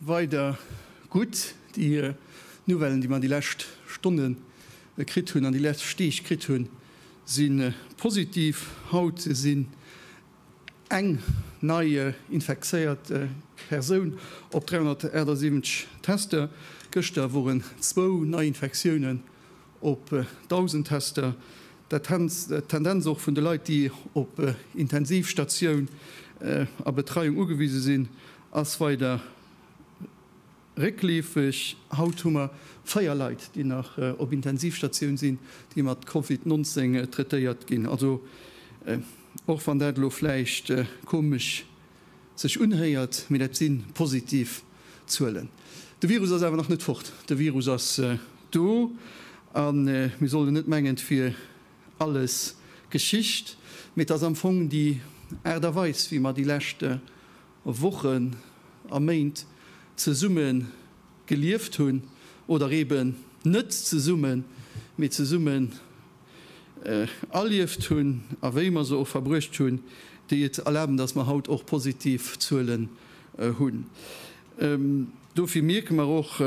Weider gutt déi Nouvellen, déi mer déi lescht Stonne kritt hunn an déi lescht Deeg kritt hunn, si positiv. Haut sinn eng nei infektéiert Persoun op 378 Tester. Gëschter woren zwou Neiinfektiounen op 1.000 Tester, dat hänzt d'Tendenz och vun de Leit, déi op Intensivstatioun a Betreiung ugewise sinn, ass weider réckleefeg. Haut hu mer 4 Leit, déi nach op Intensivstatioun sinn, déi mat Covid 19 traitéiert ginn. Also och wann dat elo vläicht komesch sech unhéiert, mee dat si positiv Zuelen. De Virus ass awer nach net fort. De Virus ass do a mir sollen net mengen, et wier alles Geschicht, mee et ass am Fong déi Aart a Weis, wéi mer déi lescht Wochen a Méint zesumme gelieft hunn oder eeben net zesumme, mee zesumme erlieft hunn a wéi mer se och verbruecht hunn, déi et erlaben, dass mer haut och positiv Zuelen hunn. Dofir mierke mer och,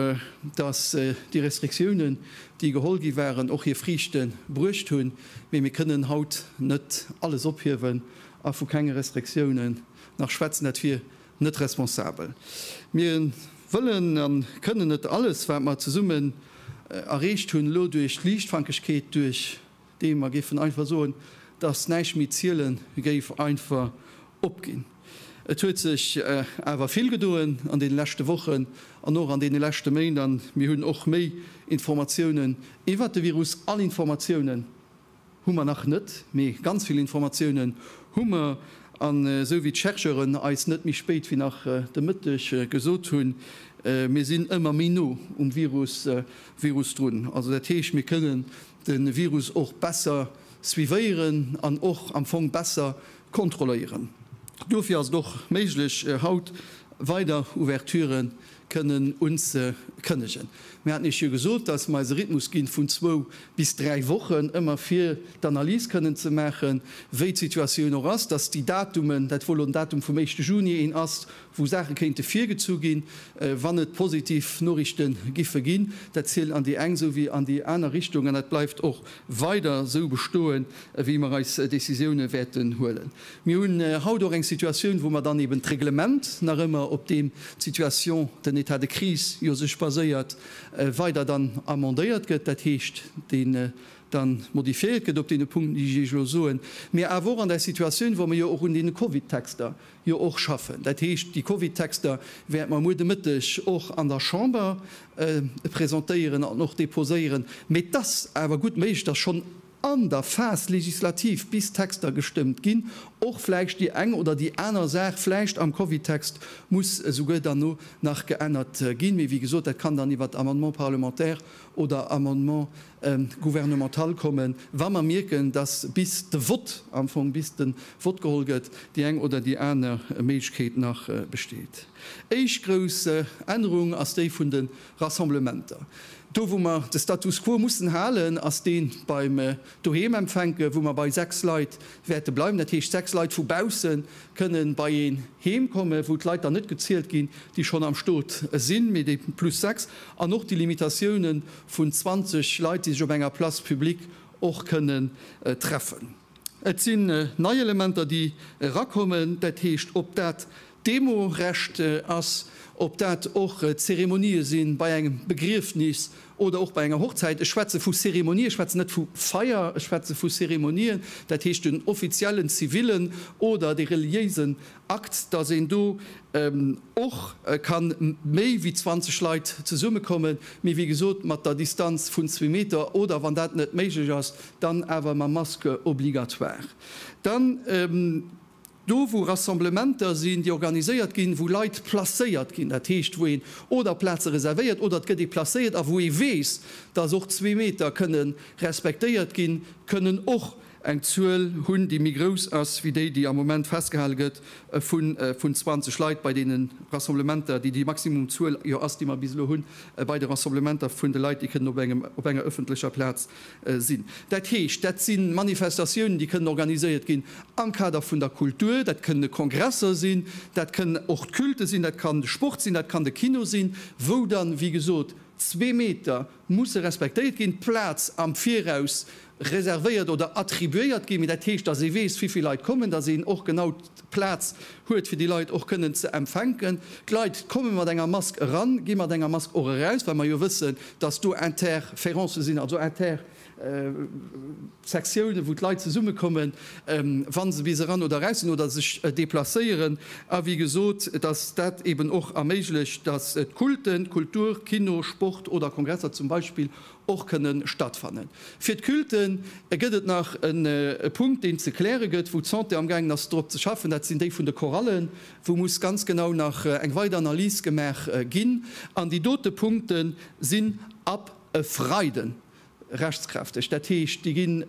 dass déi Restriktiounen, déi geholl gi waren, och hir Friichte bruecht hunn. Mee mir kënnen haut net alles ophiewen a vu kenge Restriktiounen nach schwätzen. Dat wier Net responsabel. Mir wëllen a kënnen net alles, wat mer zesummen erreecht hunn, elo duerch Liichtfankegkeet, duerch dee mer géifen einfach soen, dass näischt méi ziele géif, einfach opginn. Et huet sech awer vill gedoen an deene leschte Wochen an och an deene leschte Méint a mir hunn och méi Informatiounen iwwert de Virus. All Informatiounen Hu mer nach net, mee ganz vill Informatiounen hu mer. An esou wéi d'Chercheuren eis net méi spéit wéi nach de Mëtteg gesot hunn, mir sinn ëmmer méi no um Virus Virus drun. Also dat heescht, mir kënnen de Virus och besser suivéieren an och am Fong besser kontrolléieren. Dofir ass et och méiglech haut weider Ouverturen kënnen unzekënnegen. Mir haten Iech jo gesot, dass mer eis e Rhythmus ginn vun zwou bis dräi Wochen, ëmmer fir d'Analys kënnen ze maachen, wéi d'Situatioun och ass, dass déi Datumen, dat wou elo den Datum vum éischte Juni een ass, wou Saache kéinte virgezu ginn, wann et positiv Noriichte giffe ginn, dat zielt an déi eng esou wéi an déi aner Richtung an dat bleift och weider esou bestoen, wéi mer eis Décisioune wäerten huelen. Mir hunn haut och eng Situatioun, wou mer dann eben d'Reglement, nach ëmmer op deem d'Situation, den État de crise jo sech baséiert, weider dann amendéiert gëtt, dat heescht, deen dann modifiéiert gëtt op deene Punkten, déi ech Iech elo soen, mee awer och an där Situatioun, wou mer jo och un deene Covid-Texter jo och schaffen. Dat heescht, déi Covid-Texter wäerte mer muer de Mëtteg och an der Chamber presentéieren an och déposéieren, mee et ass awer gutt méiglech, dass schonn, an der Phase législative, bis Texter gestëmmt ginn, och vläicht déi eng oder déi aner Saach vläicht am Covid-Text muss esouguer dann no nach geännert ginn. Mee wéi gesot, dat kann dann iwwert Amendement parlementaire oder Amendement gouvernemental kommen, wa mer mierken, dass bis de Vott, am Fong bis de Vott geholl gëtt, déi eng oder déi aner Méiglechkeet nach besteet. Éischt grouss Ännerung ass déi vun de Rassemblementer. Do wou mer de Status quo mussen halen, ass dee beim Doheem empfänken, wou mer bei 6 Leit wäerte bleiwen. Dat heescht, 6 Leit vu bausse kënne bei een Heem kommen, wou d'Leit dann net gezielt ginn, déi schonn am Stot sinn, mee déi plus 6. An och déi Limitatioune vun 20 Leit, déi sech op enger Place publique och kënnen treffen. Et sinn nei Elementer, déi erakommen, dat heescht, ob dat d'Demo-Recht ass, ob dat och d'Zeremonië sinn bei engem Begriefnis oder och bei enger Hochzäit. Ech schwätze vu Zeremonië, ech schwätzen net vu Feier, ech schwätze vu Zeremonien, dat heescht den offiziellen zivillen oder dee reliéisen Akt, dass een do och ka méi wéi 20 Leit zesummekommen, mee wéi gesot mat der Distanz vun zwee Meter oder, wann dat net méiglech ass, dann awer mam Masque obligatoire. Dann do, wou Rassemblementer sinn, déi organiséiert ginn, wou Leit placéiert ginn, dat heescht, wou een oder Plaze reservéiert oder et gëtt ee placéiert a wou ee weess, dass och zwee Meter kënnen respektéiert ginn, kënnen och, eng Zuel hunn, déi méi grouss ass wéi déi, déi am Moment festgehale gëtt vun 20 Leit bei deene Rassemblementer, déi déi Maximumzuel jo ass, déi mer bis elo hu bei de Rassemblementer vun de Leit, déi kënnen op enger ëffentlecher Plaz sinn. Dat heescht, dat si Manifestatiounen, déi kënnen organiséiert ginn am Kader vun der Kultur. Dat kënne Kongresser sinn, dat kënn och d'Culte sinn, dat kann de Sport sinn, dat kann de Kino sinn, wou dann, wéi gesot, zwee Meter musse respektéiert ginn, d'Plaz am Viraus reservéiert oder attribuéiert ginn, mee dat heescht, dass ee weess, wéi vill Leit kommen, dass een och genau d'Plaz huet, fir déi Leit och kënnen ze empfänken. D'Leit komme mat enger Mask eran, gi mat enger Mask och eraus, well mer jo wëssen, dass do Interférencë sinn, also Intersektioune wou d'Leit zesummekommen, wa se bis eran oder eraus sinn oder sech deplacéieren. A wéi gesot, dass dat eeben och erméiglecht, dass d'Kulten, d'Kultur, Kino, Sport oder Kongresser zum Beispill och kënne stattfannen. Fir d'Culte gëtt et nach e Punkt, deen ze kläre gëtt, wou d'Santé amgaangen ass drop ze schaffen, dat sinn déi vun de Chorallen, wou muss ganz genau nach eng weider Analys gemaach ginn. An déi dote Punkte sinn ab e Freiden rechtskräfteg. Dat heescht, déi ginn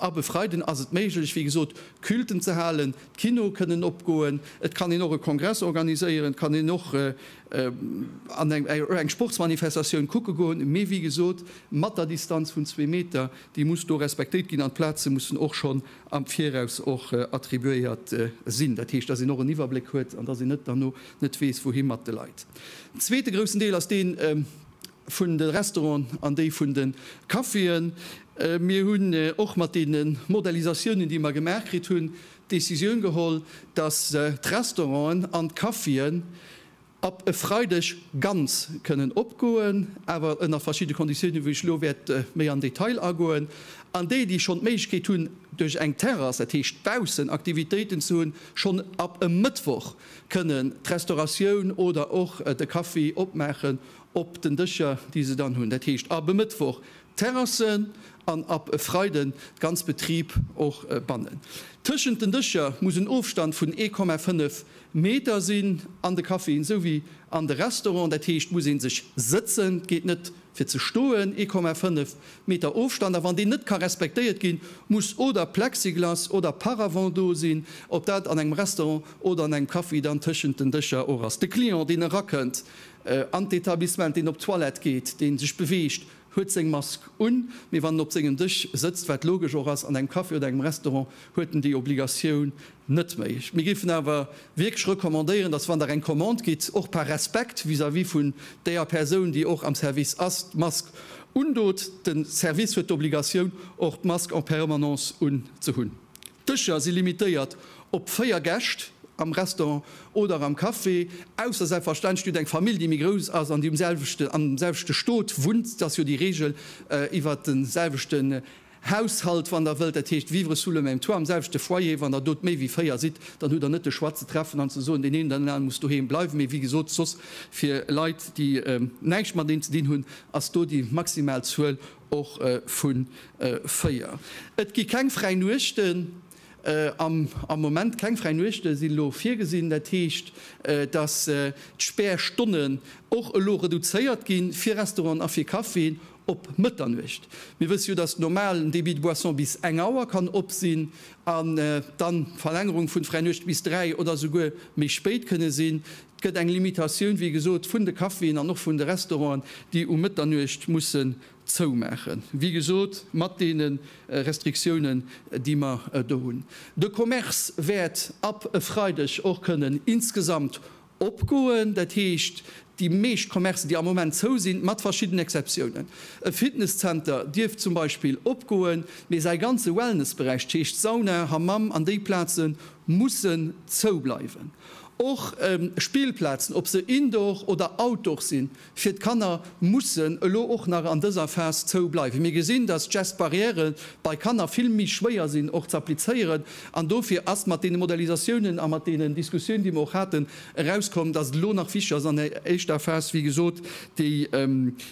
ab e Freiden ass et méiglech, wéi gesot, Culten ze halen, d'Kinoe kënnen opgoen, et kann een och e Kongress organiséieren, et kann een och an eng Sportsmanifestatioun kucke goen, mee wéi gesot mat der Distanz vun zwee Meter, déi muss do respektéiert ginn an d'Plaze mussen och schonn am Viraus och attribuéiert sinn. Dat heescht, dass een och en Iwwerbléck huet an dass een net derno net weess wouhi mat de Leit. Den zweete groussen Deel ass deen, vun de Restauranten an déi vun de Caféen. Mir hunn och mat deene Modellisatiounen, déi mer gemaach kritt hunn, d'Decisioun geholl, dass d'Restauranten an d'Caféen ab e Freideg ganz kënnen opgoen, awer ënner verschidde Konditiounen, wou ech elo wäert méi am Detail agoen. An déi, déi schonn d'Méiglechkeet hunn, duerch eng Terrass, dat heescht baussen Aktivitéiten ze hunn, schonn ab e Mëttwoch kënnen d'Restauratioun oder och de Café opmaachen, op den Dëscher, déi se dann hunn, dat heescht ab e Mëttwoch d'Terrassen an ab e Freiden de ganz Betrib och bannen. Tëschent den Dëscher muss en Ofstand vun 1,5 Meter sinn, an de Caféen esou wéi an de Restauranten, dat heescht muss ee sech sëtzen, et geet net fir ze stoen, 1,5 Meter Ofstand, a wann deen net ka respektéiert ginn, muss oder Plexiglas oder Paravent do sinn, ob dat an engem Restaurant oder an engem Café dann tëschent den Dëscher och ass. De Client, deen erakënnt, An d'Etablissement, deen op d'Toilette geet, deen sech beweegt, huet seng Mask un, mee wann en op sengem Dësch sëtzt, wat logesch och ass, an engem Café oder engem Restaurant, huet en déi Obligatioun net méi. Mir géifen awer wierklech recommandéieren, dass wann Der eng Commande gitt, och par Respekt vis-à-vis vun däer Persoun, déi och am Service ass, d'Mask undot. De Service huet d'Obligatioun och d'Mask en permanence un ze hunn. D'Dëscher si limitéiert op 4 Gäscht am Restaurant oder am Café, ausser selbstverständlech dir hutt eng Famill déi méi grouss ass an déi um selwechten, am selwechte Stot wunnt, et ass jo déi Regel iwwert de selwechten Haushalt wann der wëllt, dat heescht vivre sous le même toit, am selwechte Foyer, wann der do méi wéi 4 sidd, dann hutt der net de Choix ze treffen an ze soen, deen een oder deen aneren muss doheem bleiwen, mee wéi gesot soss fir Leit déi näischt mateneen ze dinn hunn ass do déi maximal Zuel och vu 4. Et gi keng fräi Nuechten am Moment. Keng fräi Nuechte sinn elo virgesinn. Dat heescht, datt d'Späerstonnen och elo reduzéiert ginn, fir Restauranten a fir Caféen op Mëtternuecht. Mir wësse jo, datt normal en Débit de boissons bis eng Auer kann op sinn an dann d'Verlängerung vun fräi Nuechte bis 3 oder esouguer méi spéit kënne sinn. 't gëtt eng Limitatioun, wéi gesot, vun de Caféen an och vun de Restauranten, déi um Mëtternuecht mussen zoumaachen, wéi gesot, mat deene Restriktiounen, déi mer do hunn. De Commerce wäert ab e Freideg och kënnen insgesamt opgoen, dat heescht, déi meescht Commercen, déi am Moment zou sinn, mat verschiddenen Exceptiounen. E Fitness-Zenter dierf zum Beispill opgoen, mee säi ganze Wellness-Beräich, dat heescht Sauna, Hammam an déi Plazen, mussen zoubleiwen. Och Spillplazen, ob se Indoor oder Outdoor sinn, fir d'Kanner mussen elo och nach an dëser Phas zou bleiwen. Mir gesinn, dass d'Gestbarrièren bei Kanner vill méi schwéier sinn och z'applizéieren an dofir ass mat deene Modalisatiounen a mat deenen Diskussioun, déi mer och haten, erauskomm, dass et elo nach wichteg ass an der éischter Phas, wéi gesot, déi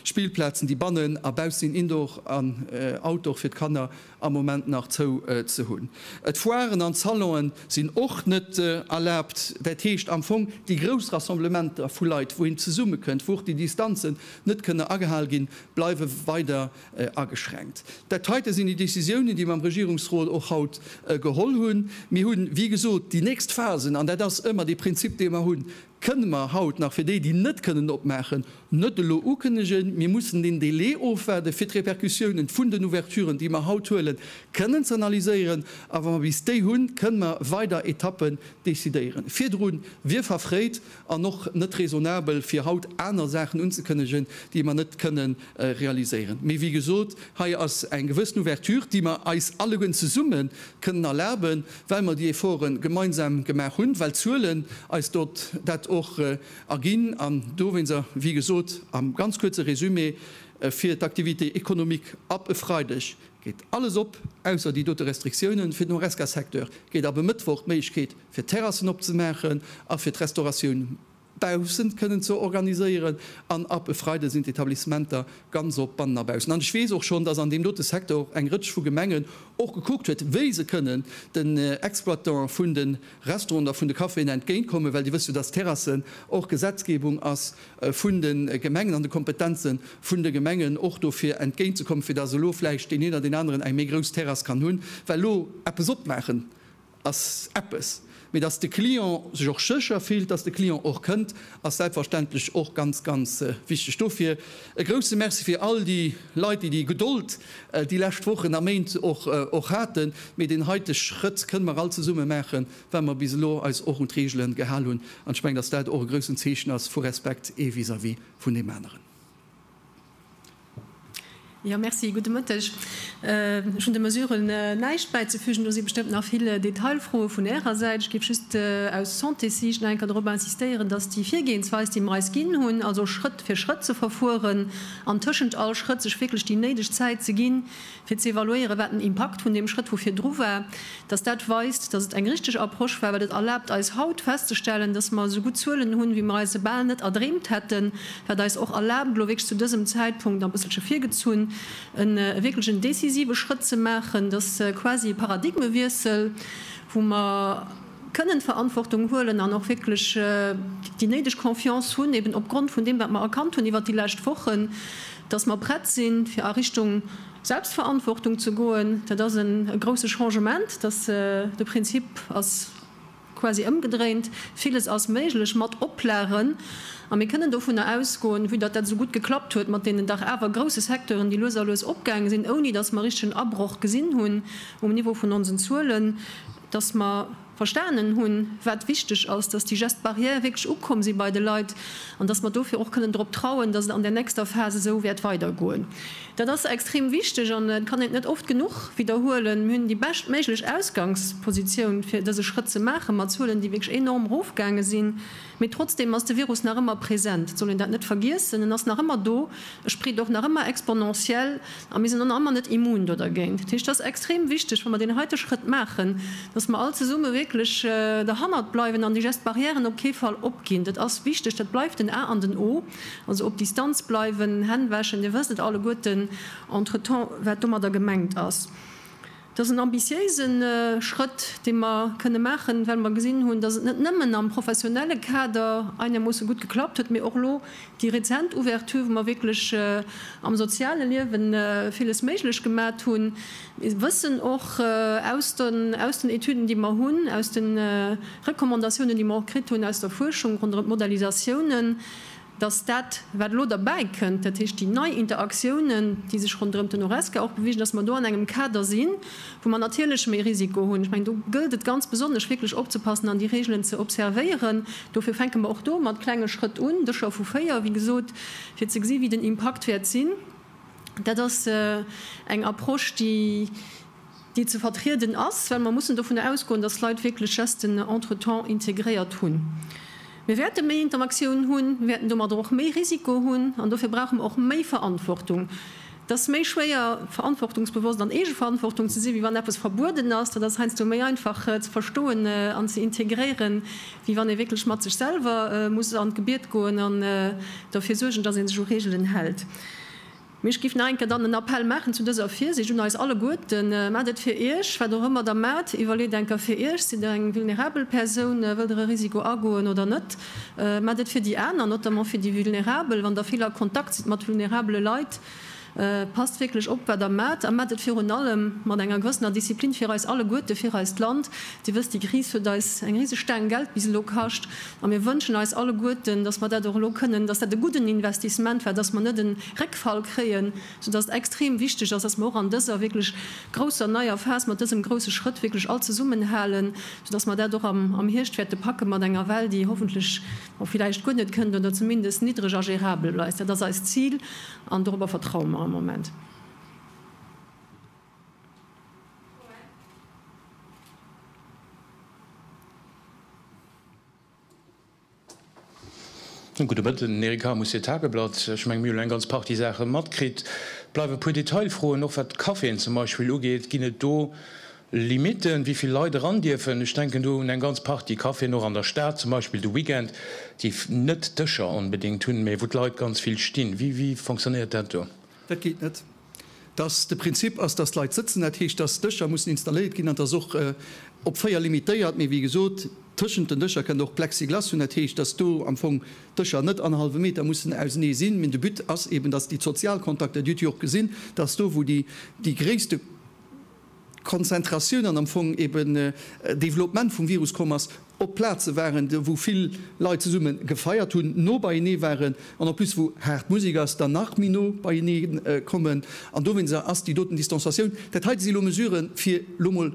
Spillplazen, déi bannen a baussinn, Indoor an Outdoor, fir d'Kanner, am Moment nach zou ze hunn. D'Foiren an d'Salonë sinn och net erlaabt, dat heescht am Fong déi grouss Rassemblementer vu Leit, wou een zesummekënnt, wou och déi Distanzen net kënne agehal ginn, bleiwe weider ageschränkt. Dat heite sinn déi Décisiounen, déi mer am Regierungsrot och haut geholl hunn. Mir hunn, wéi gesot, déi nächst Phasen, an dat ass ëmmer dee Prinzip, dee mer hunn, Kënne mer haut nach, fir déi, déi net kënnen opmaachen, net elo ukënnegen, mir mussen den Délai ofwaarden, fir d'Répercussiounen vun den Ouverturen, déi mer haut huelen, kënnen ze analyséieren, a wa mer bis déi hunn, kënne mer weider Etappen decidéieren. Virdru wier verfréit an och net raisonnabel, fir haut aner Saachen unzekënnegen, déi mer net kënne realiséieren. Mee wéi gesot, hei ass eng gewëssen Ouverture, déi mer eis alleguerten zesumme kënnen erlaben. well mer déi Efforte gemeinsam gemaach hunn, well d'Zuelen eis dat och erginn an dowéinst, a wéi gesot am ganz kuerze Résumé, fir d'Activité économique ab e Freideg geet alles op, ausser déi dote Restriktiounen fir den Horesca-Secteur, geet ab e Mëttwoch d'Méiglechkeet fir d'Terrassen opzemaachen a fir d'Restauratioun. baussent kënnen ze organiséieren an ab e Freide sinn d'Etablissementer ganz op bannen a baussen. An ech weess och schonn, dass an deem dote Secteur och eng Rëtsch vu Gemengen och gekuckt huet, wéi se kënnen den Exploitantë vun de Restauranten a vun de Caféen entgéint kommen, well Dir wësst jo, dass d'Terrassen och Gesetzgebung ass vun de Gemengen an de Kompetenze vun de Gemengen, och do fir entgéint ze kommen, fir dass elo vläicht deen een oder deen aneren eng méi grouss Terrass kann hunn, well elo eppes opmaachen ass eppes, mee dass de Client sech och sécher fillt, dass de Client och kënnt, ass selbstverständlech och ganz, ganz wichteg. Dofir e grouse Merci fir all déi Leit, déi déi Gedold déi lescht Wochen a Méint och haten. Mee deen heite Schrëtt kënne mer all zesumme maachen, well mer bis elo eis och un d'Reegelen gehal hunn. An ech mengen, dass dat och e groussen Zeechen ass vu Respekt ee vis-à-vis vun deem aneren. Jo, merci, gudde Mëtteg. Ech hunn de Mesuren näischt bäizefügen. Do si bestëmmt nach vill Detailfroe vun Ärer Säit. Ech géif just aus Santéssiicht nach eng Kéier dorop insistéieren, datt déi Virgehensweis, déi mer eis ginn hunn, also Schrëtt fir Schrëtt ze verfueren an tëschent all Schrëtt sech wierklech déi néideg Zäit ze ginn, fir ze evaluéieren, wat den Impakt vun deem Schrëtt, wou virdru war, dass dat weist, dass et eng richtig Approche war, well et erlaabt eis haut festzestellen, dass mer esou gutt Zuelen hunn, wéi mer eis se bal net erdreemt hätten, wat eis och erlaabt, elo wierklech zu dësem Zäitpunkt, a bësselche virgezunn, e wierklech en décisive Schrëtt ze maachen, dass quasi e Paradigmewiessel, wou mer. kënnen d'Verantwortung huelen an och wierklech déi néideg Confiance hunn, eben opgrond vun deem, wat mer erkannt hunn iwwert déi lescht Wochen, dass mer prett sinn, fir a Richtung Selbstverantwortung ze goen. Dat ass e grouse Changement, dass de Prinzip ass quasi ëmgedréint. Villes ass méiglech mat Oplagen, a mir kënnen dovunner ausgoen, vue datt dat esou gutt geklappt huet mat deenen dach awer grouse Secteuren, déi lues a lues opgaange sinn, ouni dass mer richtegen Abroch gesinn hunn um Niveau vun onsen Zuelen. dass mer verstanen hunn, wat wichteg ass, dass déi Gestes barrières wierklech ukomm si bei de Leit an dass mer dofir och kënnen drop trauen, dass et an där nächster Phas esou wäert weidergoen. Dat ass extrem wichteg an et kann een et net oft genuch widderhuelen. Mir hunn déi beschtméiglech Ausgangspositioun, fir dëse Schrëtt ze maachen, mat Zuelen, déi wierklech enorm erofgaange sinn. Mee trotzdeem ass de Virus nach ëmmer present, et soll een dat net vergiessen. En ass nach ëmmer do, e spreet och nach ëmmer exponentiell a mir sinn och nach ëmmer net immun do dergéint. Dat heescht, et ass extrem wichteg, wa mer deen heite Schrëtt maachen, datt mer all zesumme wierklech derhannert bleiwen an déi Gestes barrièren op kee Fall opginn. Dat ass wichteg, dat bleift en A an en O. Also op Distanz bleiwen, Hänn wäschen, Dir wësst et alleguerten entretemps, wat domadder gemengt ass. Et ass en ambitiéise Schrëtt, dee mer kënne maachen, well mer gesinn hunn, dass et net nëmmen am professionelle Kader einermoosse gutt geklappt huet, mee och elo déi rezent Ouverture, wou mer wierklech am soziale Liewe villes méiglech gemat hunn. Mir wëssen och aus den Etüden, déi mer hunn, aus de Recommandatiounen, déi mer och kritt hunn aus der Fuerschung ronderëm d'Modellisatiounen, dass dat, wat elo derbäi kënnt, dat heescht déi nei Interaktiounen, déi sech ronderëm den Horesca och bewegen, dass mer do an engem Kader sinn, wou mer natierlech méi Risiko hunn. Ech mengen, do gëllt et ganz besonnesch wierklech opzepassen an déi Regeln ze observéieren. Dofir fänke mer och do mat klenge Schrëtt un, Dëscher vu véier, wéi gesot, fir ze gesi wéi den Impakt wäert sinn. Dat ass eng Approche, déi, déi ze vertrieden ass, well mer mussen dovun ausgoen, dass Leit wierklech Gesten entretemps integréiert hunn. Mir wäerte méi Interaktioun hunn, mir wäerten domadder och méi Risiko hunn an dofir brauche mer och méi Verantwortung. Et ass méi schwéier, verantwortungsbewosst an Eegeverantwortung ze sinn, wéi wann eppes verbueden ass. Dat ass heiansdo méi einfach ze verstoen an ze integréieren, wéi wann ee wierklech mat sech selwer muss an d'Gebiet goen an derfir suergen, dass ee sech u Reegelen hält. Mee ech giff nach eng Kéier dann en Appell maachen zu dëser Virsiicht un eis alleguerten, Maat et fir iech, wat och ëmmer der maat, iwwerleet eng Kéier fir iech, sidd der eng vulnerabel Persoun, wëllt der e Risiko agoen oder net? Maat et fir déi aner, notamment fir déi vulnerabel, wann der vill a Kontakt sidd mat vulnerabele Leit, passt wierklech op wat der maat, a maat et virun allem mat enger gewëssener Disziplin fir eis alleguerte, fir eist Land. Dir wësst, déi Kris huet eis eng riseg Staang Geld bis elo kascht. A mir wënschen eis alleguerten, dass mer dat och elo kënnen, dass dat e gudden Investissement war, dass mer net e Réckfall kréien, soudass et extrem wichteg ass, dass mer och an dëser wierklech grousser neier Phas mat dësem grousse Schrëtt wierklech all zesummenhalen, soudass mer dat och am Hierscht wäerte packe mat enger Well, déi hoffentlech och villäicht guer net kënnt oder zumindest niddreg a gérabel bleist. Dat ass eist Zil an dorobber vertraue mer am Moment. Gudde Mëtten, Eric Harm, Houssier Tageblatt. Ech menge mir hunn elo eng ganz Partie Saache matkritt. Bleiwe e puer Detailfroen, och wat d'Caféen zum Beispill ugeet. Ginn et do Limitten, wéi vill Leit eran dierfen? Ech denken do un eng ganz Partie Caféen, och an der Stad zum Beispill de Weekend, déi net Dëscher onbedéngt hunn, mä wou d'Leit ganz vill stinn. Wéi fonctionnéiert dat do? Dat geet net. dass de Prinzip ass, dass d'Leit sëtzen, dat heescht, dass Dëscher mussen installéiert ginn an dass och op véier limitéiert, mee wéi gesot, tëschent den Dëscher kënnt och Plexiglas hunn, dat heescht, dass do am Fong d'Dëscher net an e hallwe Meter mussen ausenee sinn, mee de But ass eeben, dass déi Sozialkontakter, Dir hutt jo och gesinn, dass do wou déi gréisste. Konzentratioun an am Fong eben Développement vum Virus komm ass, op Plaze waren, wou vill Leit zesumme gefeiert hunn, no beienee waren an en plus wou haart Musek ass, dann nach méi no beienee kommen an dowéinst ass déi doten Distanzatioun. Dat heite si elo Mesurë fir elo emol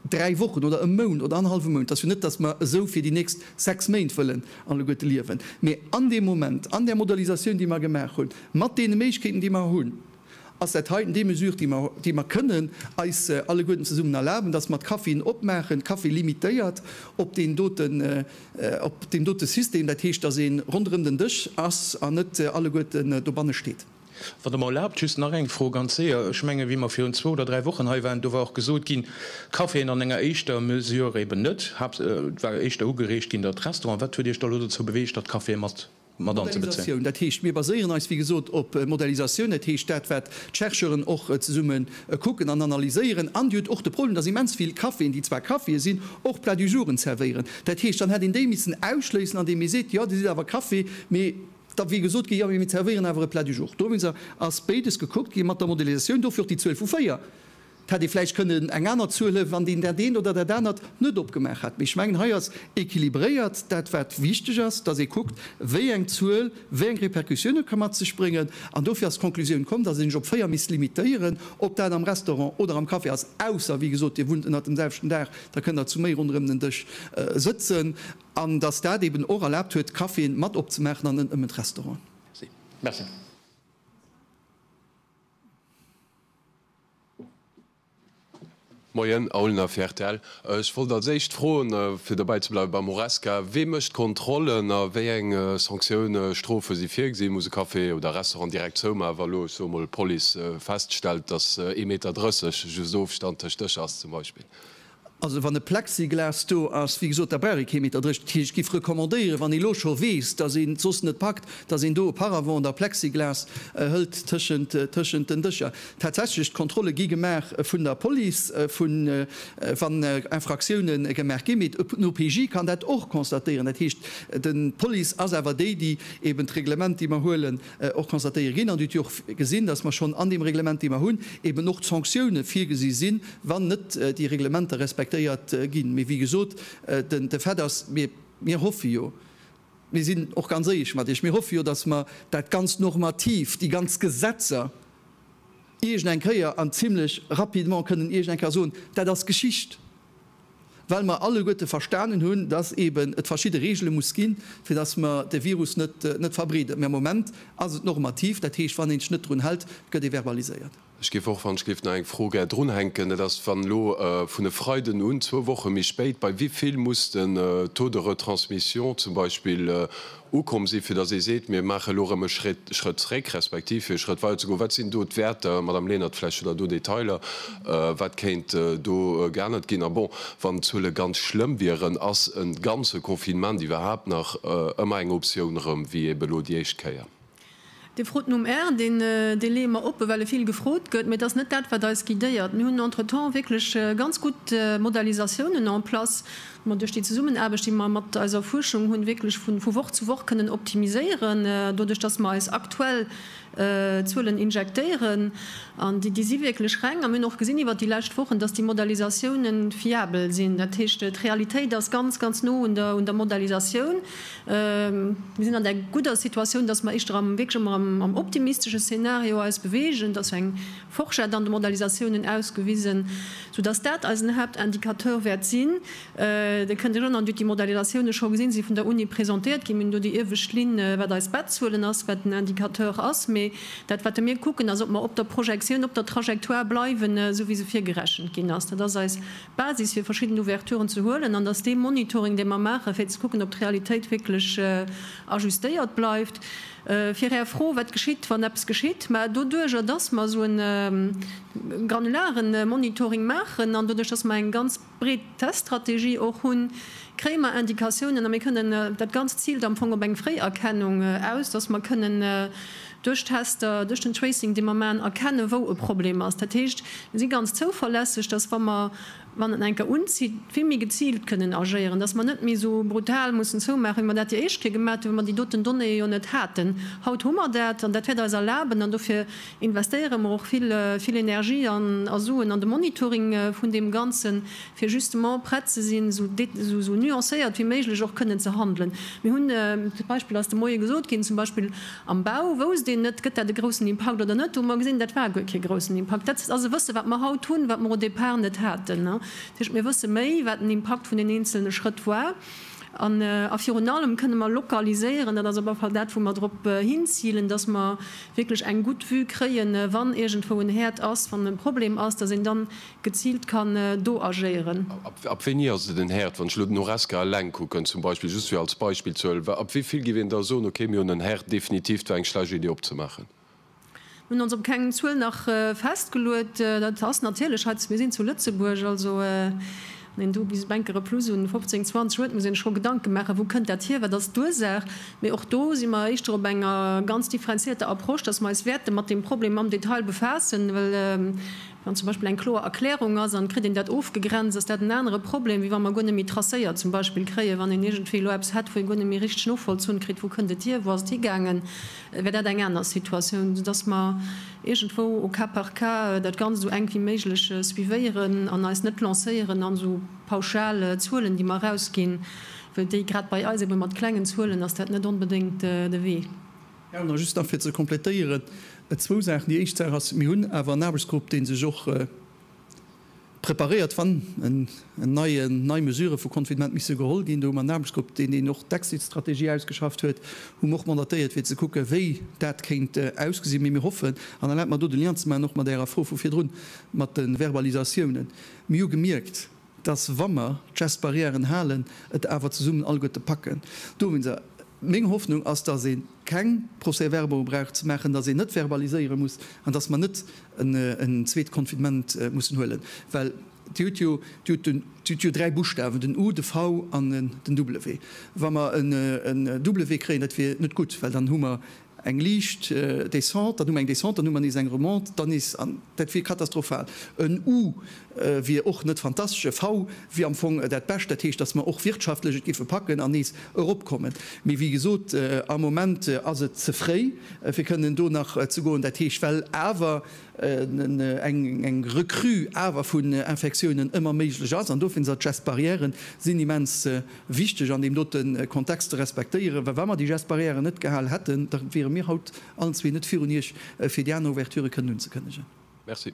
dräi Wochen oder e Mount oder annerhallwe Mount. Et ass jo net, datt mer esou fir déi nächst sechs Méint wëllen alleguerte liewen, mee an deem Moment, an där Modelisatioun, déi mer gemaach hunn, mat deene Méiglechkeeten, déi mer hunn, ass dat heiten déi Mesure, déi mer, déi mer kënnen eis alleguerten zesummen erlaben, dass mer d'Caféen opmaachen, d'Café limitéiert op deen doten, op deem dote System, dat heescht, dass ee ronderëm den Dësch ass an net alleguerten dobanne steet. Wann Der mer erlaabt, just nach eng Fro, ganz séier. Ech mengen, wéi mer virun zwou oder dräi Wochen hei waren, do war och gesot ginn, d'Caféen an enger éischter Mesure eben net, et war éischter ugereegt ginn, datt d'Restaurant. Wat huet Iech da elo dozou beweegt, datt d'Caféen mat mat anzebezéien. Dat heescht, mir baséieren eis, wéi gesot, op Modellisatioun. Dat heescht, dat, wat d'Chercheuren och zesumme kucken an analyséieren. An Dir hutt och de Problem, dass immens vill Caféen, déi zwar Caféë sinn, och Plats du jours-en zerwéieren. Dat heescht, dann hätt een déi missen ausschléissen, andeem ee seet, jo, Dir sidd awer Café, mee da wier gesot ginn, jo, mee mir zerwéieren awer e Plat du jour. Dowéinst ass béides gekuckt gi mat der Modellisatioun, dofir och déi Zuel vu véier. Hätt ee vläicht kënnen eng aner Zuel huelen, wann een dat eent oder dat anert net opgemaach hätt. Mee ech mengen, hei ass équilibréiert dat, wat wichteg ass, dass ee kuckt, wéi eng Zuel wéi eng Répercussioune ka mat sech bréngen. An dofir ass d'Conclusioun komm, dass ee sech op véier misst limitéieren. Ob dat am Restaurant oder am Café ass, ausser, wéi gesot, Dir wunnt ënnert dem selwechten Daach, da kënnt Der zu méi ronderëm den Dësch sëtzen. An dass dat eeben och erlaabt huet, d'Caféen mat opzemaachen an net nëmmen d'Restauranten. Merci. Moien Aulner Fertel, ech wollt als éischt froen, fir dobäi ze bleiwen beim Horesca, wee mécht d'Kontrollen a wéi eng Sanktioune, Strofe si virgesinn? Muss e Café oder Restaurant direkt zoumaachen, wa elo, ech soe mol, d'Police feststellt, datt ee Meter drësseg just Ofstand tëscht Dëscher ass zum Beispill? Also wann e Plexiglas do ass, wéi gesot, da brauch ee kee Meter dréch. Dat heescht, ech géif recommandéieren, wann ee lo scho weess, datt een et soss net packt, datt een do e Paravent oder e Plexiglas hëlt tëschent, tëschent den Dëscher. Tatsächlech, d'Kontrolle gi gemaach vun der Police, vu wann Infraktioune gemaach ginn. Mee den OPJ kann dat och constatéieren. Dat heescht, d'Police ass awer déi, déi eeben d'Reglement, déi mer huelen, och konstatéiere ginn. An Dir hutt jo och gesinn, dass mer schonn an deem Reglement, dee mer hunn, eben och d'Sanktioune virgesi sinn, wann net déi Reglementer respektéiert ginn. Mee wéi gesot, de Fait ass, mir hoffe jo, mir sinn och ganz éierlech mat Iech, mir hoffe jo, dass mer dat ganzt normativ, déi ganz Gesetzer iergend eng Kéier an zimlech rapidement kënnen iergend eng Kéier soen, Dat ass Geschicht, well mer alleguerte verstanen hunn, dass eben et verschidde Reegele muss ginn, fir dass mer de Virus net verbreeden. Mä am Moment ass et normativ, dat heescht, wann een sech net drun hält, gëtt ee verbaliséiert. Ech géif och, wann ech géif, nach eng Fro gär drunhänken, dat ass, wann elo vun e Freiden un, zwou Woche méi spéit, bei wéi vill muss den Taux de retransmission zum Beispill ukomm sinn, fir datt ee seet, mir maachen elo erëm e Schrëtt zréck, respektiv fir e Schrëtt weider ze goen? Wat sinn do d'Wäerter, Madamm Lenert, vläicht hutt Der do Detailer, wat kéint do geännert ginn? A bon, wann d'Zuele ganz schlëmm wieren, ass e ganze Confinement iwwerhaapt nach ëmmer eng Optioun erëm, wéi ebe elo déi éischt Kéier? Dir frot nom Air, deen dee leeë mer oppe well e vill gefrot gëtt, mee et ass net dat wat eis guidéiert. Mir hunn entretemps wierklech ganz gutt Modalisatiounen en place, wou mer duerch déi Zesummenaarbecht déi mer mat eiser Fuerschung hunn, wierklech vu vu Woch zu Woch kënnen optimiséieren doduerch datt mer eis aktuell Zuelen injektéieren. An déi déi si wierklech reng a mir hunn och gesinn iwwert déi lescht Wochen, datt déi Modalisatiounen fiabel sinn. Dat heescht d'Realitéit ass ganz ganz no un der un der Modalisatioun. Mir sinn an der gudder Situatioun, dass mer éischter am, wierklech emmer am, am optimistesche Szenario eis bewegen. Et ass jo eng Forschett an de Modalisatiounen ausgewisen, soudass dat eisen Haaptindicateur wäert sinn. Dir kënnt erënnern, Dir hutt déi Modalisatiounen scho gesinn, se si vun der Uni presentéiert ginn. Mir hunn do déi iewescht Linn, wat eis Bettzuelen ass, wat den Indicateur ass. Mee dat, wat mir kucken, ass, ob mer op der Projektioun, op der Trajectoire bleiwen, esou wéi se virgerechent ginn ass. Dat ass eis Basis fir verschidden Ouverturen ze huelen an datt dee Monitoring, dee mer maachen, fir ze kucken, ob d'Realitéit wierklech ajustéiert bleift. Fir Är Fro, wat geschitt, wann eppes geschitt? Mä doduerjer, datt mer esou e granulare Monitoring maachen an doduerch, datt mer eng ganz breet Teststrategie och hunn, kréie mer Indikatiounen a mir kënnen, dat Ganzt ziilt am Fong op eng Fréierkennung aus, datt mer kënnen duerch d'Tester, duerch den Tracing, dee mer maachen, erkennen, wou e Problem ass. Dat heescht, mir si ganz zouverlässeg, dass, wa mer, wann et enker unzitt, vill méi geziilt kënnen agéieren, dass mer net méi esou brutal mussen zoumaachen, wéi mer dat déi éischt Kéier gemaach hunn, wou mer déi doten Donnéeë jo net haten. Haut hu mer dat an dat wäert eis erlaben, an dofir investéiere mer och vill Energie a Suen an de Monitoring vun deem Ganzen, fir justement prett ze sinn, esou nuancéiert wéi méiglech och kënnen ze handelen. Mir hunn d'Beispill ass de Moie gesot ginn, zum Beispill am Bau wousst een net, gëtt dat e groussen Impakt oder net, do hu mer gesinn, dat war guer kee groussen Impakt. Dat ass e Wësse wat mer haut hunn, wat mer au départ net haten. Dat heescht, mir wësse méi, wat den Impakt vun den eenzelne Schrëtt war an a virun allem kënne mer lokaliséieren, dat ass op alle Fall dat wou mer drop hinzilen, datt mer wierklech eng gutt Vue kréien, wann iergendwou en Häerd ass, wann e Problem ass, datt een dann geziilt kann do agéieren. Ab wéini ass et en Herd? Wann ech elo den Horesca eleng kucken, zum Beispill, just fir als Beispill ze huelen, ab wéi vill giff een da soen, okay, mir hunn en Herd, definitiv, et war eng schlecht Idee opzemaachen? Mir hunn ons op keng Zuel nach festgeluet. Dat ass natierlech hei, mir sinn zu Lëtzebuerg, also wann een do bis Bänke replus un 15, 20 huet, muss ee sech scho Gedanke maachen, wou kënnt dat hier, wat ass d'Ursaach? Mee och do si mer éischter op enger ganz differenzierter Approche, dass mer eis wäerte mat deem Problem am Detail befaassen, well Wann zum Beispill eng kloer Erklärung ass an kritt een dat ofgegrenzt, ass dat en anere Problem, wéi wa mer guer net méi tracéiert zum Beispill kréien. Wann een iergendwéi elo eppes hätt, wou ee guer net méi richteg novollzunn kritt, wou kënnt et hier, wou ass et higaangen, wär dat eng aner Situatioun, soudass mer iergendwou au cas par cas dat Ganzt esou enk wéi méiglech suivéieren an eis net lancéieren an esou pauschal Zuelen, déi mer erausginn, well déi, grad bei eis ebe mat klengen Zuelen, ass dat net onbedéngt de Wee. Ja, an just nach fir ze komplettéieren, zwou Saachen. Déi éischt Saach ass, Mir hunn awer en Aarbechtsgrupp, dee sech och preparéiert, wann nei Mesurë vu Confinement misse geholl ginn. Do hu mer en Aarbechtsgrupp, deen een och d'Exit-Strategie ausgeschafft huet, wou mer och mandatéiert, fir ze kucken, wéi dat kéint ausgesinn. Mee mir hoffen, an erlaabt mer do de Lien ze maachen och mat Ärer Fro vu virdrun mat de Verbalisatiounen, mir hu gemierkt, dass wa mer d'Gestbarrièren halen, et awer zesummen alleguerte packen. Dowéinst, meng Hoffnung ass, dass ee keng Procès-verbaux brauch ze maachen, dass een net verbaliséiere muss an dass mer net en zweet Confinement mussen huelen, well Dir hutt jo, Dir hutt den, Dir hutt jo dräi Buschtawen, den U, de V an den W. Wa mer en W kréien, dat wier net gutt, well dann hu mer eng liicht Descente, dann hu mer eng Descente, dann hu mer nees eng Remontée, dann nees, an dat wier katastrophal. En U wier och net fantastesch, e V wier am Fong dat Bescht, dat heescht, datt mer och wirtschaftlech et géife packen an nees eropkommen. Mee wéi gesot, am Moment ass et ze fréi, fir kënnen do nach ze goen. Dat heescht, well awer eng Recrue awer vun Infektiounen ëmmer méiglech ass, an dofir sinn d'Gestes barrières immens wichteg an deem dote Kontext ze respektéieren, well wa mer déi Gestes barrières net gehal hätten, da wiere mir haut allen zwee net virun Iech, fir déi aner Ouverturë kënnen unzekënnegen. Merci.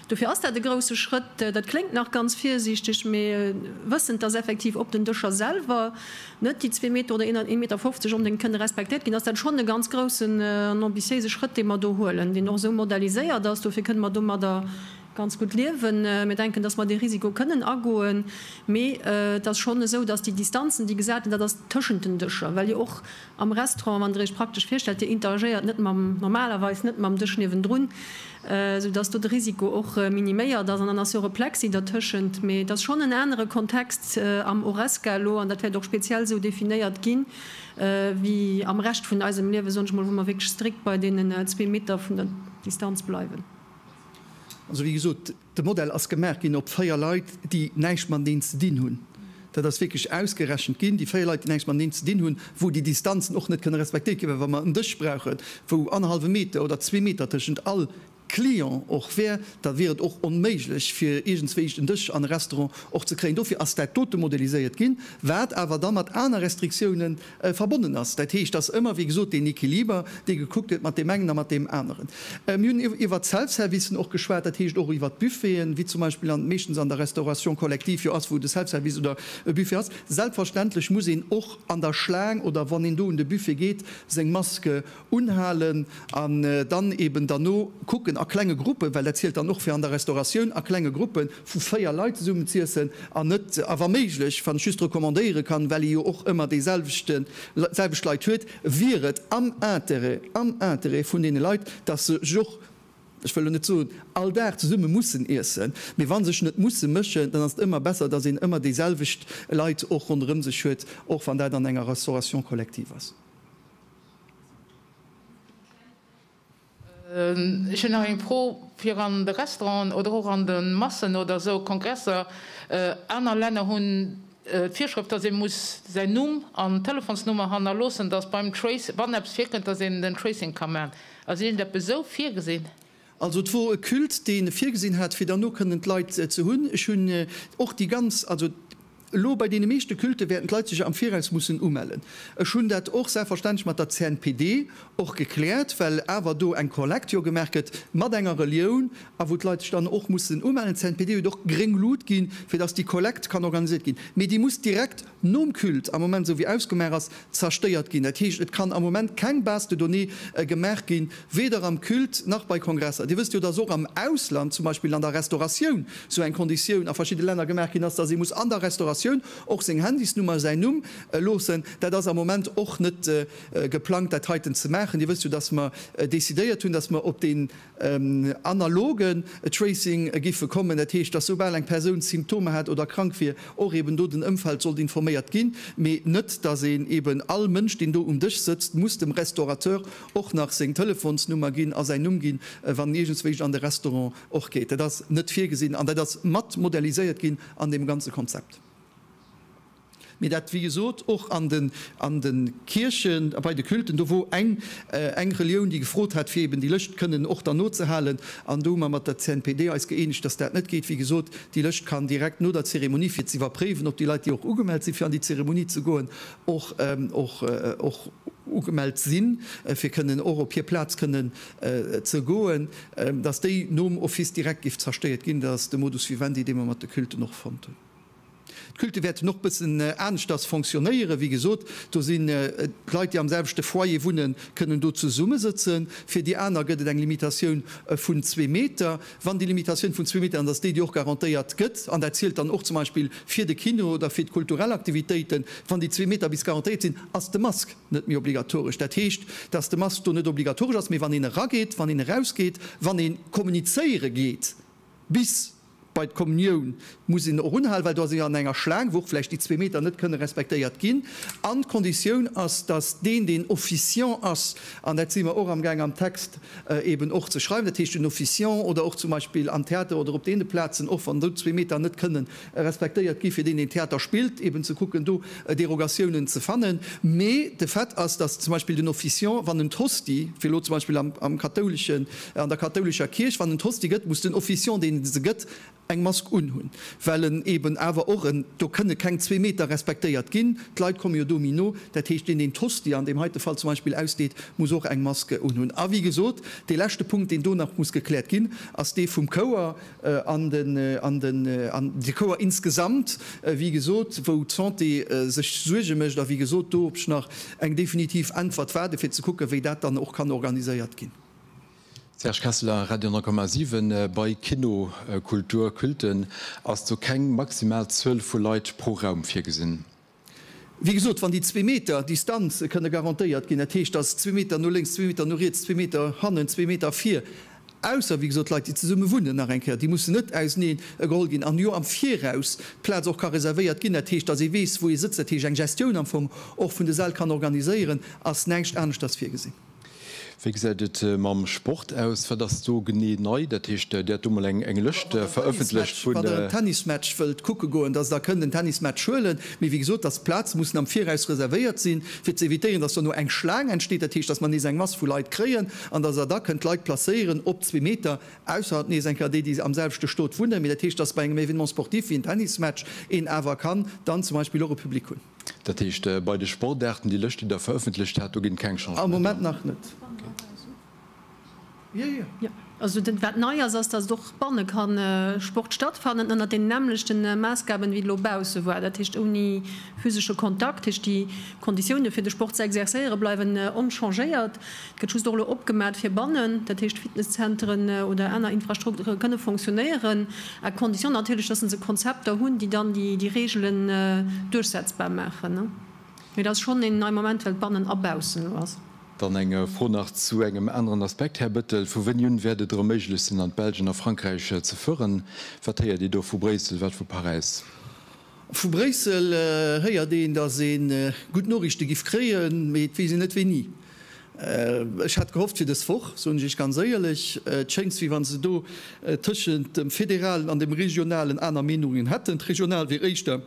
Dofir ass dat e grousse Schrëtt. Dat kléngt nach ganz virsiichteg, mee wëssend, dass effektiv op den Dëscher selwer net déi zwee Meter oder een Meter fofzeg onbedéngt kënne respektéiert ginn, ass dat schonn e ganz groussen an ambitiéise Schrëtt, dee mer do huelen, deen och esou modaliséiert ass. Dofir kënne mer domadder ganz gutt liewen. Mir denken, dass mer dee Risiko kënnen agoen. Mee et ass schonn esou, dass déi Distanzen, déi gesat ginn, dat ass tëschent den Dëscher, well jo och Am Restaurant, wann der iech praktesch virstellt, dir interagéiert net mam, normalerweis net mam Dësch niewendrun, sou dass do de Risiko och miniméiert ass. An dann ass jo och e Plexi dertëschent. Mee et ass schonn en anere Kontext am Horesca elo, an dat wäert och speziell esou definéiert ginn, wéi am Rescht vun eisem Liewen, soen ech mol, wou mer wierklech strikt bei deenen zwee Meter vun der Distanz bleiwen. Also wéi gesot, De Modell ass gemaach ginn op 4 Leit, déi näischt mateneen ze dinn hunn. Dat ass wierklech ausgerechent ginn, déi 4 Leit, déi näischt mateneen ze dinn hunn, wou déi Distanzen och net kënne respektéiert ginn. Well wa mer en Dësch brauchen, wou annerhallwe Meter oder zwee Meter tëschent all Client och wär, da wier et och onméiglech, fir iergendswéischt en Dësch an e Restaurant och ze kréien. Dofir ass dat dote modeliséiert ginn, wat awer da mat aner Restriktiounen verbonnen ass. Dat heescht, et ass ëmmer, wéi gesot, deen Equiliber, dee gekuckt gëtt mat deem engen a mat deem aneren. Mir hunn iwwert d'Self-Servicen och geschwat, dat heescht och iwwert d'Buffeten, wéi zum Beispill an meeschtens an der Restauration collective jo ass, wou de Self-Service oder e Buffet ass. Selbstverständlech muss een och an der Schlaang oder wann een do un de Buffet geet, seng Maske unhalen an dann eben derno kucken a klenge Gruppen, well dat zielt dann och fir an der Restauratioun, a klenge Gruppe vu véier Leit zesummen z'iessen an net, a wa méiglech, wann ech just recommandéiere kann, well ee jo och ëmmer déiselwechten, selwecht Leit huet, wier et am Intérêt, am Intérêt vun deene Leit, dass se sech och, ech wëll elo net soen, all Dag zesumme mussen iessen, mee wa sech net musse mëschen, dann ass et ëmmer besser, dass een ëmmer déiselwecht Leit och ronderëm sech huet, och wann dat an enger Restauration collective ass. Ech hunn nach eng Fro fir an de Restauranten oder och an de Massen oder esou Kongresser. Aner Länner hunn d'Virschrëft, dass ee muss säin Numm an Telefonsnummer hannerloossen, dass beim Trace, wann eppes virkënnt, dass een den Tracing ka maachen. Ass iergend eppes esou virgesinn? Also et wor e Culte, deen e virgesinn hat, fir derno kënnen d'Leit ze hunn. Ech hunn och déi ganz, also elo bei deene meeschte Cultë wäerten d'Leit sech am Viraus mussen umellen. Ech hunn dat och selbstverständlech mat der CNPD och gekläert, well awer do eng Kollekt jo gemaach gëtt mat enger Relioun a wou d'Leit sech dann och mussen umellen. D'CNPD huet och gréng Lut ginn, fir datt déi Kollekt kann organiséiert ginn, mee déi muss direkt, nom Culte am Moment esou wéi ausgemaach ass, zerstéiert ginn. Dat heescht, et kann am Moment keng Base de données gemaach ginn, weder am Culte nach bei Kongresser. Dir wësst jo, dass och am Ausland, zum Beispill an der Restauratioun, esou eng Konditioun a verschidde Länner gemaach ginn ass, dass ee muss an der Restauratioun och seng Handysnummer, säin Numm loossen. Dat ass am Moment och net geplangt, dat heiten ze maachen. Dir wësst jo, dass mer decidéiert hunn, dass mer op dee Analoge Tracing giffe kommen, dat heescht, dass soubal eng Persoun Symptomer hat oder krank wier, och eben do den Ëmfeld sollt informéiert ginn, mee net, dass een eben all Mënsch, deen do um Dësch sëtzt, muss dem Restaurateur och nach seng Telefonsnummer ginn a säin Numm ginn, wann en iergendswéischt an de Restaurant och geet. Dat ass net virgesinn an dat ass mat modelliséiert ginn an deem ganze Konzept. Mee dat, wéi gesot, och an de Kierchen, bei de Culten, do wor eng Relioun, déi gefrot hat, fir eben déi Lëscht kënnen och dann nozehalen. An do hu mer mat der CNPD eis gëeenegt, datt dat net geet. Wéi gesot, déi Lëscht kann direkt no der Zeremonie, fir ze iwwerpréiwen, ob déi Leit, déi och ugemellt si fir an déi Zeremonie ze goen, och ugemellt sinn, fir kënnen och op hir Plaz kënnen ze goen, datt déi nom Office direkt géif zerstëiert ginn. Dat ass de Modus vivendi, dee mer mat de Culten och fonnt hunn. D'Culte wäerten och bëssen aneschters fonctionnéieren. Wéi gesot, do sinn d'Leit, déi am selwechte Foyer wunnen, kënnen do zesummesëtzen. Fir déi aner gëtt et eng Limitatioun vun zwee Meter. Wann déi Limitatioun vun zwee Meter, an et ass déi, déi och garantéiert gëtt, an dat zielt dann och zum Beispill fir de Kino oder fir d'kulturell Aktivitéiten, wann déi zwee Meter bis garantéiert sinn, ass de Mask net méi obligatoresch. Dat heescht, dass de Mask do net obligatoresch ass, mee wann een erageet, wann een erausgeet, wann ee kommunizéiere geet, bis Bei d'Kommunioun muss een och unhalen, well do ass ee jo an enger Schlaang, wou och vläicht déi zwee Meter net kënne respektéiert ginn. An d'Konditioun ass, dass deen, deen Officiant ass, an dat si mer och amgaang am Text eeben och ze schreiwen, dat heescht den Officiant oder och zum Beispill am Theater oder op deene Plazen, och wann do zwee Meter net kënnen respektéiert gi fir deen, deen Theater spillt, eeben ze kucken, do Derogatiounen ze fannen. Mee de Fait ass, dass zum Beispill den Officiant, wann en d'Hostie, fir elo zum Beispill am kathoulesche An der kathoulescher Kierch, wann en d'Hostie gëtt, muss den Officiant, deen se gëtt, eng Mask unhunn, well en eben awer och en, do kënne keng zwee Meter respektéiert ginn, d'Leit komme jo domi no, dat heescht, deen, deen d'Hostie an deem heite Fall zum Beispill ausdeet, muss och eng Mask unhunn. A wéi gesot, dee leschte Punkt, deen do nach muss gekläert ginn, ass dee vum Chouer an den, an den, an de Chouer insgesamt, wéi gesot, wou d'Santé sech Suerge mécht. A wéi gesot, do op ech nach eng definitiv Äntwert waarde fir ze kucken, wéi dat dann och kann organiséiert ginn. Serge Kesseler, Radio 10,7. Bei Kinokultur, Culten, ass do keng maximal Zuel vu Leit pro Raum virgesinn? Wéi gesot, wann déi zwee Meter Distanz kënne garantéiert ginn, dat heescht, dass zwee Meter no lénks, zwee Meter no riets, zwee Meter hannen, zwee Meter vir, ausser wéi gesot Leit, déi zesumme wunnen, nach eng Kéier, déi mussen net ausernee geholl ginn, an jo am Viraus d'Plaz och ka reservéiert ginn, dat heescht, dass ee weess, wou ee sëtzt, dat heescht eng Gestioun am Fong och vun de Säll kann organiséieren, ass näischt aneschters virgesinn. Wéi gesäit et mam Sport aus? Wat ass do genee nei? Dat heescht, Dir hat do mol eng Lëscht verëffentlecht vun. Wann der en Tennismatch wëllt kucke goen, dass der kënnt en Tennismatch huelen. Mee wéi gesot, dass d'Plaze mussen am Viraus reservéiert sinn, fir ze evitéieren, dass dono eng Schlaang entsteet. Dat heescht, dass mer nees eng Mass vu Leit kréien an dass der da kënnt d'Leit placéieren op zwee Meter. Ausser nees eng Kéier déi, déi am selwechte Stot wunnen. Mee dat heescht, dass bei engem Événement sportif wéi en Tennismatch een awer kann dann zum Beispill och e Public hunn. Dat heescht, bei de Sportaarten, déi Lëscht, déi Der verëffentlecht hat, do ginn et keng Changementer? Am Moment nach net. Wat nei ass, ass, datt och banne ka Sport stattfannen ënnert deenen nämmlechten Maassgaben, wéi et elo bausse war. Dat heescht, ouni physesche Kontakt. Dat heescht, déi Konditiounen, fir de Sport ze exerzéieren, bleiwen onchangéiert. Gëtt just och elo opgemat fir bannen, dat heescht Fitnesszenteren oder aner Infrastrukture kënne fonctionnéieren, à condition natierlech, dass se Konzepter hunn, déi dann déi Reegelen duerchsetzbar maachen. Mee et ass schonn een neie Moment, well et bannen a baussen elo ass. Dann eng Fro nach zu engem aneren Aspekt, Här Bettel. Vu wéini un wäert et erëm méiglech sinn, an d'Belsch an a Frankräich ze fueren? Wat héiert Dir do vu Bréissel, wat vu Paräis? Vu Bréissel héiert een, datt ee gutt Noriichte giff kréien, mee et weess een net wéini. Ech hat gehofft fir dës Woch, soen ech Iech ganz éierlech. Et schéngs wéi wann se do tëschent dem Federalen an dem Regionalen aner Meenungen hätten. D'Regional wier éischter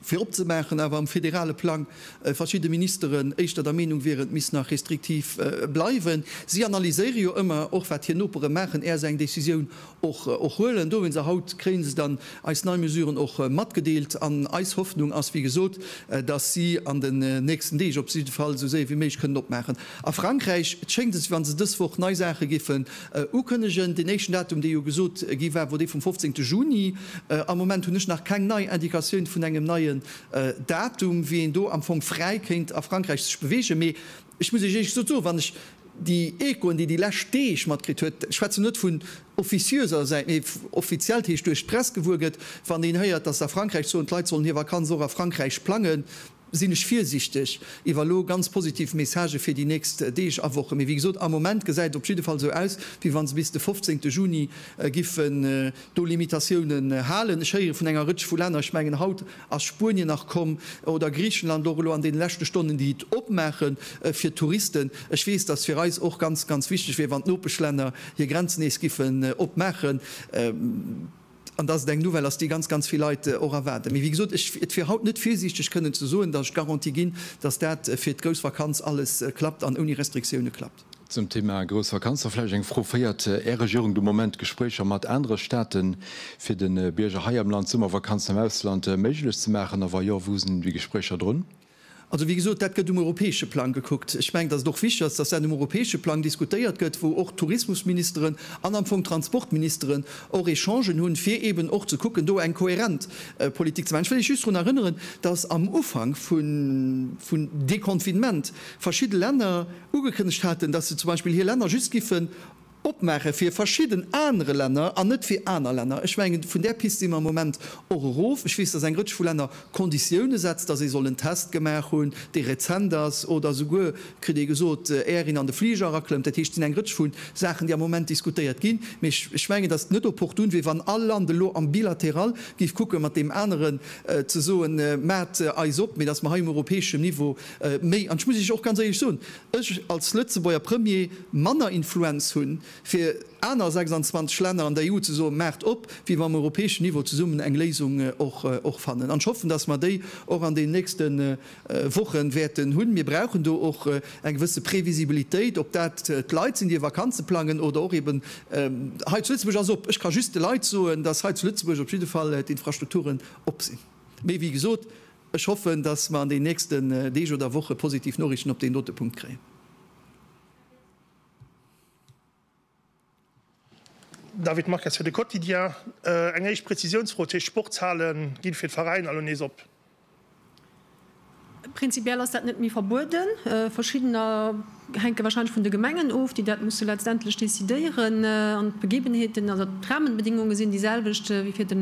fir opzemaachen, awer um federale Plang verschidde Ministeren éischter der Meenung wieren, et misst nach restriktiv bleiwen. Si analyséiere jo ëmmer och wat hir Nopere maachen, är se eng Decisioun och huelen. Dowéinst, a haut kréie se dann eis nei Mesuren och matgedeelt an eis Hoffnung ass, wéi gesot, datt si an den nächsten Deeg op jidde Fall esou séier wéi méiglech kënnen opmaachen. A Frankräich schéngt et, wéi wa se dës Woch nei Saache géifen ukënnegen. Deen éischten Datum, dee jo gesot gi war, wor dee vum 15. Juni. Am Moment hunn ech nach keng nei Indikatioun vun engem neien Datum, wéi een do am Fong fräi kéint a Frankräich sech beweegen. Mee Ech muss Iech éisch gesot soen, wann ech déi Echoen, déi déi lescht Deeg matkritt huet, ech schwätzen net vun officiöser Säit, mee offiziell, dat heescht duerch d'Press gewuer gëtt, wann een héiert, datt se a Frankräich soen, d'Leit sollen hir Vakanz och a Frankräich plangen, sinn ech virsiichteg iwwer elo ganz positiv Messagë fir déi nächst Deeg a Wochen. Mee wéi gesot, am Moment gesäit et op jidde Fall esou aus, wéi wa se bis de 15 Juni giffen do Limitatiounen halen. Ech héiere vun enger Rëtsch vu Länner, ech mengen haut, Ass Spuenien nach komm oder Griechenland och elo an deene leschte Stonnen, déi et opmaache fir d'Touristen? Ech weess, dass fir eis och ganz, ganz wichteg wier, wann d'Nopeschlänner hir Grenzen nees giffen opmaachen, an dass et eng Nouvelle ass, déi ganz, ganz vill Leit och erwaarden. Mee wéi gesot, ech, et wier haut net virsiichteg kënnen ze soen, dass ech d'Garantie ginn, dass dat fir d'grouss Vakanz alles klappt an ouni Restriktioune klappt. Zum Thema grouss Vakanzer vläicht eng Fro, Féiert Är Regierung de Moment Gespréicher mat anere Staate fir de Bierger hei am Land d'Summervakanzen am Ausland méiglech ze maachen, a wa jo, wou sinn déi Gespréicher drun? Also, wéi gesot, dat gëtt um europäesche Plang gekuckt. Ech mengen, datt et och wichteg ass, datt dat um europäesche Plang diskutéiert gëtt, wou och d'Tourismusministeren an am Fong d'Transportministeren och Echangen hunn, fir eeben och ze kucken, do eng kohärent Politik ze maachen. Ech wëll lech just drun erënneren, datt am Ufank vun Deconfinement verschidde Länner, ugekënnegt haten, dass se zum Beispill hir Länner just giffen opmaache fir verschidden anere Länner an net fir aner Länner. Ech mengen, vun där Pist si mer am Moment och erof. Ech weess, dass eng Rëtsch vu Länner Konditioune setzt, dass ee soll en Test gemaach hunn, dee rezent ass, oder souguer, kritt ee gesot, éier een an de Fliger eraklëmmt. Dat heescht, et sinn eng Rëtsch vu Saachen, déi am Moment diskutéiert ginn. Mee ech mengen, dass et net opportun wier, wann all Land elo am Bilateral géif kucken, mat deem aneren ze soen, Maacht eis op, mee dass mer hei um europäeschem Niveau Méi, an ech muss Iech och ganz éierlech soen, ech als Lëtzebuerger Premier manner Influenz hu fir aner 26 Länner an der EU ze soen, maacht op, wéi wa mer um europäeschen Niveau zesummen eng Léisung och fannen. An ech hoffen, datt mer déi och an deenen nächste Woche wäerten hunn. Mir brauchen do och eng gewësse Previsibilitéit, ob dat d'Leit sinn, déi hir Vakanze plangen oder och eeben hei zu Lëtzebuerg. Alles op! Ech ka just de Leit soen, datt hei zu Lëtzebuerg op jidde Fall d'Infrastrukturen op sinn. Mee wéi gesot. Ech hoffen, dass mer an den nächsten Deeg oder Woche positiv Noriichten op deen dote Punkt kréien. David Marques fir de Quotidien. Eng éischt Prezisiounsfro, d'Heescht Sportshale gi fir d'Veräiner elo nees op? Prinzipiell ass dat net méi verbueden. Verschiddener hänke wahrscheinlech vun de Gemengen of, déi dat musse letztendlech decidéieren. An d'Begebenheeten oder d'Rahmenbedingungen sinn déi selwecht wéi fir de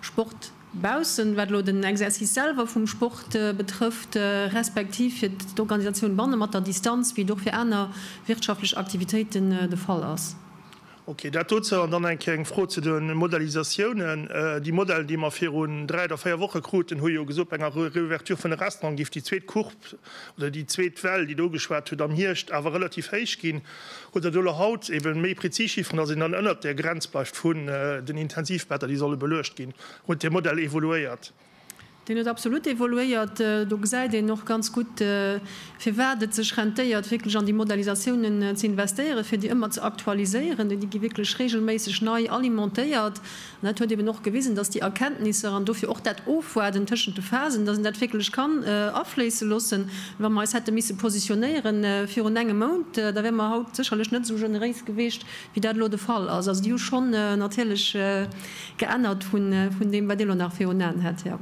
Sport. Baussen, wat elo den Exercice selwer vum Sport betrëfft, respektiv fir d'Organisatioun banne mat der Distanz, wéi et och fir aner wirtschaftlech Aktivitéiten de Fall ass. Ok, dat dozou. An dann eng Kéier eng Fro zu de Modalisatiounen. Déi Modell, déi mer virun dräi oder véier Woche kruten, hu jo gesot, bei enger Reouverture vun de Restauranten géif déi zweet Courbe oder déi zweet Well, déi do geschwat huet, am Hierscht awer relativ héich ginn. oder do elo haut eben méi prezis Chifferen, dass een dann ënnert där Grenz bleift vun den Intensivbetter, déi solle beluecht ginn, huet dee Modell evoluéiert. Deen huet absolut evoluéiert. Do gesäit een och ganz gutt, firwat et sech rentéiert, wierklech an déi Modellisatiounen ze investéieren, fir déi ëmmer ze aktualiséieren, déi gi wierklech reegelméisseg nei alimentéiert. Et huet eben och gewisen, dass déi Erkenntnisser an dofir och dat Ofwaarden tëschent de Phasen, dass een dat wierklech kann afléisse loossen. Wa mer eis hätte misse positionéiere virun engem Mount, da wäre mer haut sécherlech net esou generéis gewiescht, wéi dat elo de Fall ass. Also déi hu schonn natierlech geännert vun deem, wat Dir elo nach virun Aen hätt, Här.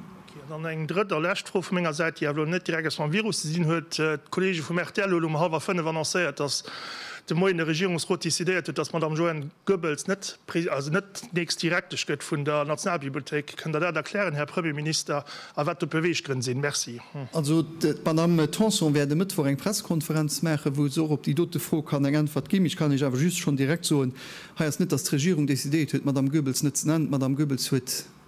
An dann eng drëtt a lescht Fro vu menger Säit, déi awer elo net direkt eppes mam Virus ze dinn huet. D'Kollege vum rtl huet elo um hallwer fënnef annoncéiert, datt de Moien de Regierungsrot decidéiert huet, datt d'Madame Joëne Goebbels net, also net nächst Direktesch gëtt vun der Nationalbibliothéik. Kënnt Der dat erklären, Här Premierminister, a wat do d'Beweeggrënn sinn? Merci. Also d'Madame Tanson wäert e Mëttwoch eng Pressekonferenz maachen, wou se och op déi dote Fro kann eng Äntwert ginn. Ech kann Iech awer just schonn direkt soen, hei ass net, datt d'Regierung decidéiert huet, d'Madame Goebbels net ze nennen. D'Madame Goebbels huet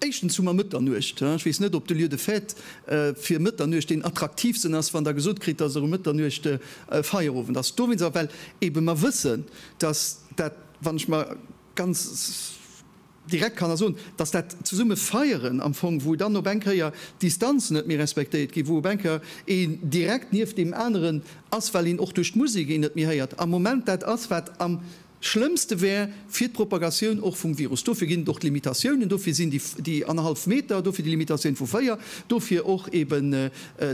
Éischtens hu mer Mëtternuecht. Ech weess net, ob de Lieu de fête fir Mëtternuecht deen attraktiivsten ass, wann Der gesot kritt, dass Äre Mëtternuecht e Feierowend ass. Dowéinst awer, well eebe mer wëssen, dass dat, wann ech mer ganz direkt kann ersoen, dass dat zesumme Feieren am Fong, wou dann op eng Kéier d'Distanzen net méi respektéiert ginn, wou op eng Kéier een direkt nieft deem aneren ass, well een och duerch d'Musek een net méi héiert, am Moment dat ass, wat am. Schlëmmste wär fir d'Propagatioun och vum Virus. Dofir ginn et och d'Limitatiounen. Dofir sinn déi annerhallef Meter, dofir déi Limitatioun vu véier, dofir och eben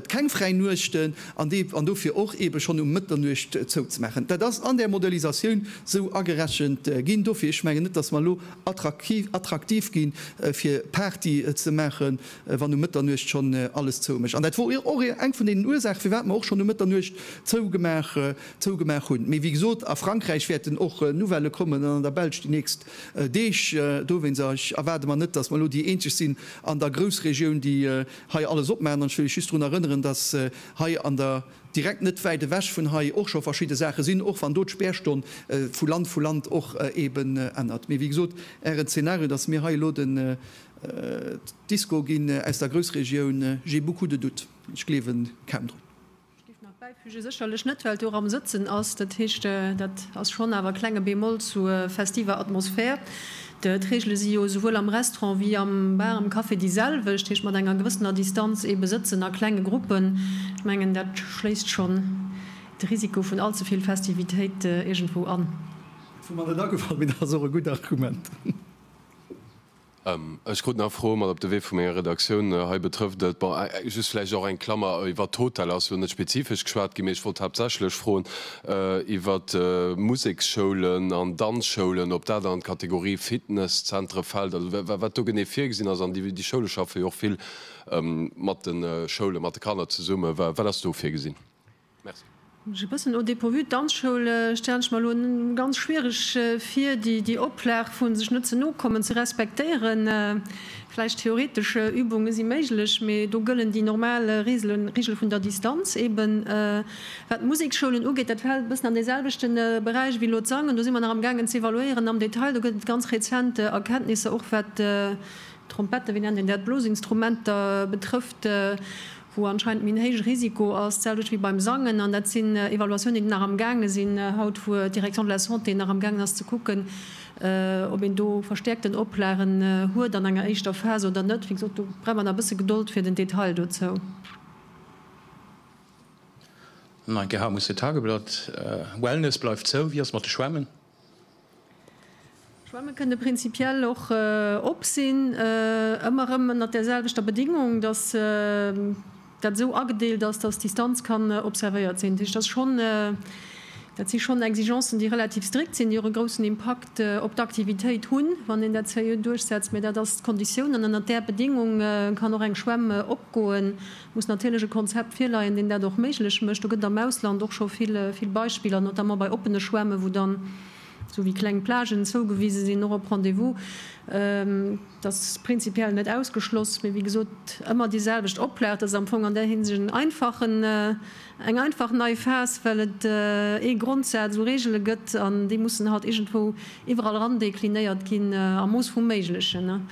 keng fräi Nuechten an dofir och ebe schonn um Mëtternuecht zouzemaachen. Dat ass an där Modellisatioun esou agerechent ginn. Dofir, ech mengen net, datt mer elo attraktiv gi fir Party ze maachen, wann um Mëtternuecht schonn alles zou mécht. An dat wor och eng vun deenen Ursaache firwat mer och schonn um Mëtternuecht zougemaach zougemaach hunn. Mee wéi gesot, a Frankräich wäerten och Nouvellë kommen an an der Belsch déi nächst Deeg. Dowéinst, a ech erwaarde mer net, datt mer elo déi eenzeg sinn an der Groussregioun, déi hei alles opmaachen. An ech wëll lech just drun erënneren, datt hei an der, direkt net wäit ewech vun hei, och scho verschidde Saache sinn, och wann do d'Spärstonn vu Land vu Land och eeben ännert. Mee wéi gesot, Ären Zeenario, datt mir hei elo den d'Disco ginn aus der Groussregioun, j'ai beaucoup de doutes. Ech gleewen kaum drun. Ech géif nach bäifügen, sécherlech net well d'Oram sëtzen ass, dat heescht dat ass schonn awer e klenge Bémol zu festiver Atmosphär. D'Reegele si jo souwuel am Restaurant wéi am Bar, am Café déi selwecht, heescht mat enger gewëssener Distanz eebe sëtzen a klenge Gruppen. Ech mengen dat schléisst schonn de Risiko vun all ze vill Festivitéit iergendwou an. Wou mer net agefall, mee dat ass och e gutt Argument. Ech krut nach Froe mat op de Wee vu menger Redaktioun. Hei betrëfft et, bon, just vläicht och eng Klammer, iwwert d'Hotel ass lo net spezifesch geschwat ginn, mee ech wollt haaptsächlech froen iwwert Museksschoulen an Danzschoulen, ob dat an d'Kategorie Fitnesszentre fält, also wat do genee virgesinn ass. An déi Schoule schaffe jo och vill mat de Schoulen, mat de Kanner zesummen. Wat ass do virgesinn? Merci. Ech e bëssen au dépourvu. D'Danzschoul stellen ech mer elo ganz schwiereg vir, déi Oplag vu sech net ze no kommen ze respektéieren. Vläicht theoretesch Übunge si méiglech, mee do gëllen déi normal Regele vun der Distanz eeben. Wat d'Museksschoulen ugeet, dat fält e bëssen an dee selwechte Beräich wéi elo d'Sangen. Do si mer nach am gaangen ze evaluéieren am Detail. Do gëtt et ganz rezent Erkenntnisser, och wat d'Trompette, wéi nennt een dat, d'Blosinstrumenter betrëfft, wou anscheinend méi en héije Risiko ass, dat selwecht wéi beim Sangen, an dat sinn Evaluatiounen, déi nach am gaange sinn haut, wou d'Direction de la Santé nach am gaangen ass ze kucken, ob een do verstäerkten Oplagen huet an enger éischter Phas oder net. Wéi gesot, do brauch mer nach e bësse Gedold fir den Detail dozou. An eng Kéier, Haut muss de Tageblatt, Wellness bleift zou, wéi ass mat de Schwämmen? Schwämme kënne prinzipiell och op sinn, ëmmer erëm ënnert der selwechter Bedingung, datt dat esou agedeelt ass, datt d'Distanz kann observéiert sinn. Dat heescht, dat si schonn Exigencen, déi relativ strikt sinn, déi och e groussen Impakt op d'Aktivitéit hunn, wann een dat seriö duerchsetzt. Mä dat ass d'Konditioun an ënnert där Bedingung kann och eng Schwämm opgoen, muss natierlech e Konzept virleien, deen dat och méiglech mécht. Do gëtt et am Ausland och scho vill Beispiller, notamment bei oppene Schwämme wou dann esou wéi kleng Plagen zougewise sinn, och op Rendez-vous. Dat ass prinzipiell net ausgeschloss, mee wéi gesot ëmmer déi selwecht Oplag. Dat ass am Fong an där Hinsicht en einfachen, eng einfach nei Phas, well et ee Grondsaz u Reegele gëtt an déi mussen halt iergendwou iwwerall eran deklinéiert ginn am Mooss vum Méiglechen.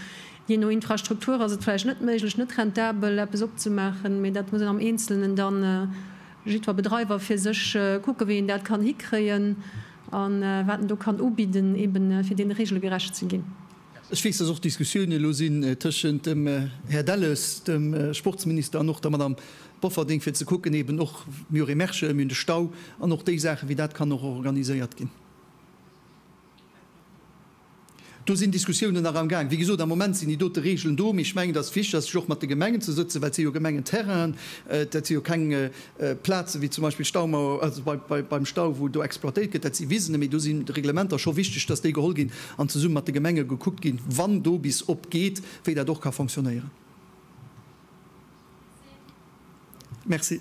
Jee no Infrastruktur ass et vläicht net méiglech, net rentabel eppes opzemaachen, mee dat muss een am Eenzelnen dann, jiddwer Bedreiwer fir sech, kucken, wéi een dat kann hikréien a wat en do kann ubidden, eben fir deene Regele gerecht ze ginn. Ech weess, dass och Diskussiounen elo sinn tëschent dem Här Delles, dem Sportsminister, an och der Madame Bofferding, fir ze kucken eben och, mir hu Remerschen, mir hunn de Stau an och déi Saachen, wéi dat kann och organiséiert ginn. Do sinn Diskussiounen nach am Gaang. Wéi gesot, am Moment sinn déi dote Regeln do, mee ech mengen, et ass wichteg, dass ech och mat de Gemengen ze sëtzen, well et si jo Gemengenterrainen, dat si jo keng Plazen, wéi zum Beispill d'Staumauer, also beim Stau, wou do exploitéiert gëtt, dat si Wisen. Mee do sinn d'Reglementer scho wichteg, dass déi geholl ginn an zesumme mat de Gemenge gekuckt ginn, wann do bis op geet, wéi dat och ka fonctionnéieren. Merci.